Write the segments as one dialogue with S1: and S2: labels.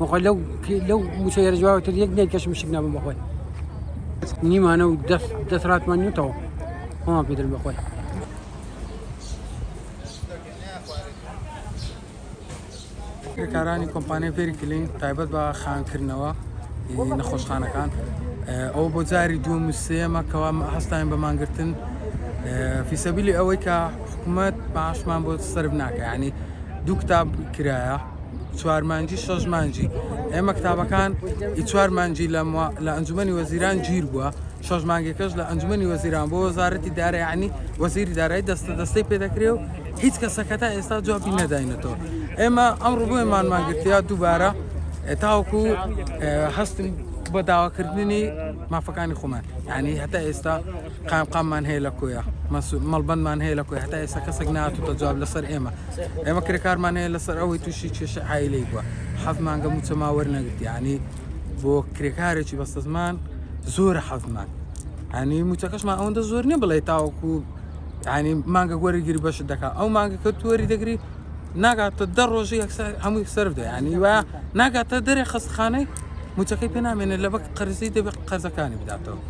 S1: بەخۆی لەو لەو موچە یێرجواوەتر یەک دێن کەشم شک نابم بەخۆی نیمانە و دەست دەسراتمان نوتەوە خۆمان پێدرم بەخۆی
S2: کارانی کۆمپانیای پێری کلین تایبەت بە خانکردنەوە نەخۆشخانەکان ئەو بۆ جاری دووە موسێمە کەوا هەستاین بەمانگرتن فیسەبیلی ئەوەی کە حکوومەت باشمان بۆ سرف ناکە ینی دوو کتاب کرایە چوار مانجی شەش مانجی ئێمە کتابەکان ئی چوار مانجی لە موا- لە ئەنجومەنی وەزیران گیر بووە شەش مانگێکەش لە ئەنجومەنی وەزیران بۆ وەزارەتی دارایانی وەزیری دارایی دەستە دەستەی پێ دەکرێ و هیچ کەسە کە تا ئێستا جوابی نەداینەتەوە ئێمە ئەمڕۆ بۆیە مانمان گرتیا دووبارە اه، تاوەکو اه، هەستن بە داواکردنی مافەکانی خۆمان یعنی هەتا ئێستا قایمقاممان هەیە لە کۆیە، مەڵبەندمان هەیە لە کۆیە، هەتا ئێستا کەسێک نەهاتووەتە جواب لەسەر ئێمە، ئێمە کرێکارمان هەیە لەسەر ئەوەی تووشی کێشەی عائیلەیی بووە، حەڤ مانگە مووچەمان وەرنەگرت، یانی بۆ کرێکارێکی بەستەزمان زۆرە حەڤ مانگ، یانی مووچەکەشمان ئەوەندە زۆر نییە بڵێ تاوەکوو یانی مانگەک وەریگری بەشت دەکا، ئەو مانگەکە تو وەریدەگری ناگاتە دە ڕۆژی یەکسەر هەمووی سەر بدە یعنی وا ناگاتە دەرێ خەستخانەی موچەکەی پێ نامێنێت لە بەک قەرزی دەبێت قەرزەکانی بداتەوە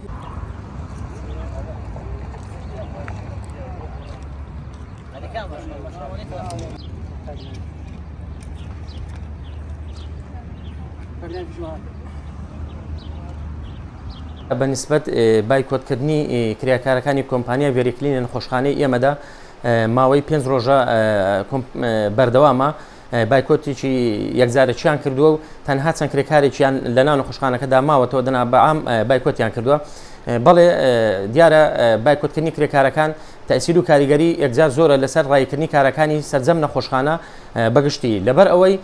S3: بە نسبەت بایکۆتکردنی کریاکارەکانی کۆمپانیا ڤێریکلینە نەخۆشخانەی ئێمەدا ماوەی پێنج ڕۆژە بەردەوامە بایکۆتێکی یەکجارەکییان کردووە و تەنها چەند کرێکارێکیان لە ناو نەخۆشخانەکەدا ماوەتەوە دەنا بەعام بایکۆتیان کردووە بەڵێ دیارە بایکۆتکردنی کرێکارەکان تەسیر و کاریگەری یەکجار زۆرە لەسەر ڕایکردنی کارەکانی سەرجەم نەخۆشخانە بەگشتی لەبەر ئەوەی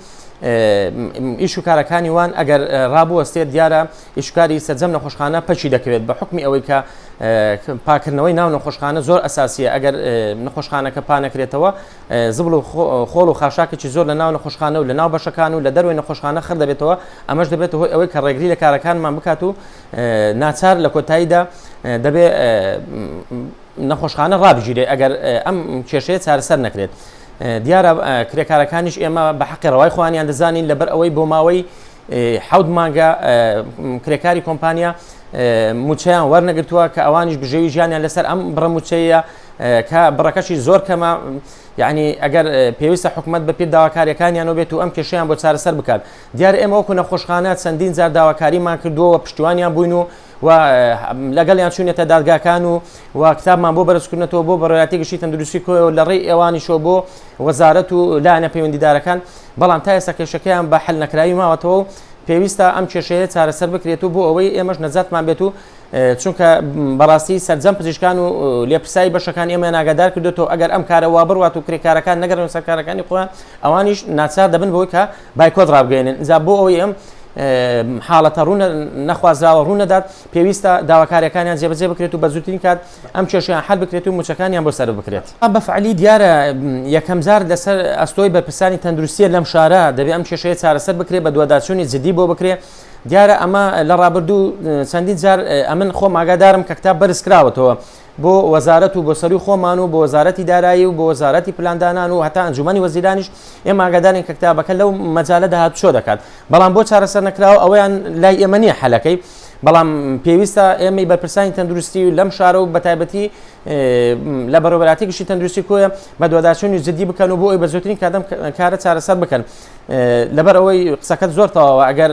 S3: ئیش و کارەکانی وان ئەگەر ڕابوەستێت دیارە ئیشوکاری سەرجەم نەخۆشخانە پەکی دەکەوێت بە حکمی ئەوەی کە پاکردنەوەی ناو نەخۆشخانە زۆر ئەساسیە ئەگەر نەخۆشخانەکە پانەکرێتەوە زبڵ و خۆڵ و خاشاکێکی زۆر لە ناو نەخۆشخانە و لە ناو بەشەکان و لە دەروی نەخۆشخانە خڕ دەبێتەوە ئەمەش دەبێت هۆی ئەوەی کە ڕێگری لە کارەکانمان بکات و ناچار لە کۆتاییدا دەبێت نەخۆشخانە ڕابگیرێ ئەگەر ئەم کێشەیە چارەسەر نەکرێت دیارە کرێکارەکانیش ئێمە بە حەقی ڕەوای خوانیان دەزانین لەبەر ئەوەی بۆ ماوەی حەوت مانگە کرێکاری کۆمپانیا موچەیان وەرنەگرتووە کە ئەوانیش بژێوی ژیانیان لەسەر ئەم بڕە موچەیە کە بڕەکەشی زۆر کەمە یعنی ئەگەر پێویستە حکوومەت بە پێ داواکاریەکانیان بێت و ئەم کێشیان بۆ چارەسەر بکات دیار ئێمە وەکو نەخۆشخانە چەندین زار داواکاریمان کردووەوە پشتیوانیان بووین و و لەگەڵیان چوونەتە دادگاکان و و کتابمان بۆ بەرزکردنەوە بۆ بەڕایەتی گشتی تەندروستی کۆیەوە لە ڕێی ئێوانیشەوە بۆ وەزارەت و لایەنە پەیوەندیدارەکان بەڵام تا ئێستا کێشەکەیان بە حل نەکراوی ماوەتەوە و پێویستە ئەم کێشەیە چارەسەر بکرێت و بۆ ئەوەی ئێمەش نەجاتمان بێت و چونکە بەڕاستی سەررجەم پزیشکان و لێپرسایی بەشەکان ئێمە ناگادار کردێتەوە ئەگەر ئەم کارەوە بڕات و کرێکارەکان نەگەرن سەرکارەکانی خۆیان ئەوانیش ناچار دەبن بۆی کە بایکۆت ڕابگەێنن ئجا بۆ ئەوی ئەم حاڵەتە ڕوونە نەخوازراوە ڕوونەدات پێویستە داواکارەکانیان جێبەجێ بکرێت و بەزوترین کات ئەم کێشیان حل بکرێت و موچەکانیان بۆ سەر بکرێت بەفعلی دیارە یەکەم جار لەسەر ئەستۆی بەرپرسانی تەندروستیە لەم شارە دەبێت ئەم کێشەیە چارەسەر بکرێت بە دوواداچوونی جدی بۆ بکرێت دیارە ئەمە لە ڕابردوو چەندین جار ئەمن خۆم ئاگادارم کە کتاب بەرزکراوەتەوە بۆ وەزارەت و بۆ سەروی خۆمان و بۆ وەزارەتی دارایی و بۆ وەزارەتی پلاندانان و هەتا ئەنجومی وەزیرانیش ئێمە ئاگادارین کە کتابەکە لەو مەجالە داهات چۆ دەکات بەڵام بۆ چارەسەر نەکراوە ئەویان لای ئێمە نییە حەلەکەی بەڵام پێویستە ئێمەی بەرپرسانی تەندروستی و لەم شارە و بەتایبەتی لە بەرەبراتی گشتی تەندروستی کۆیە بە دوواداچوونی جددی بکەن و بۆ ئەوی بە زۆترین کادەم کارە چارەسەر بکەن لەبەر ئەوەی قسەکەت زۆر تەواوە ئەگەر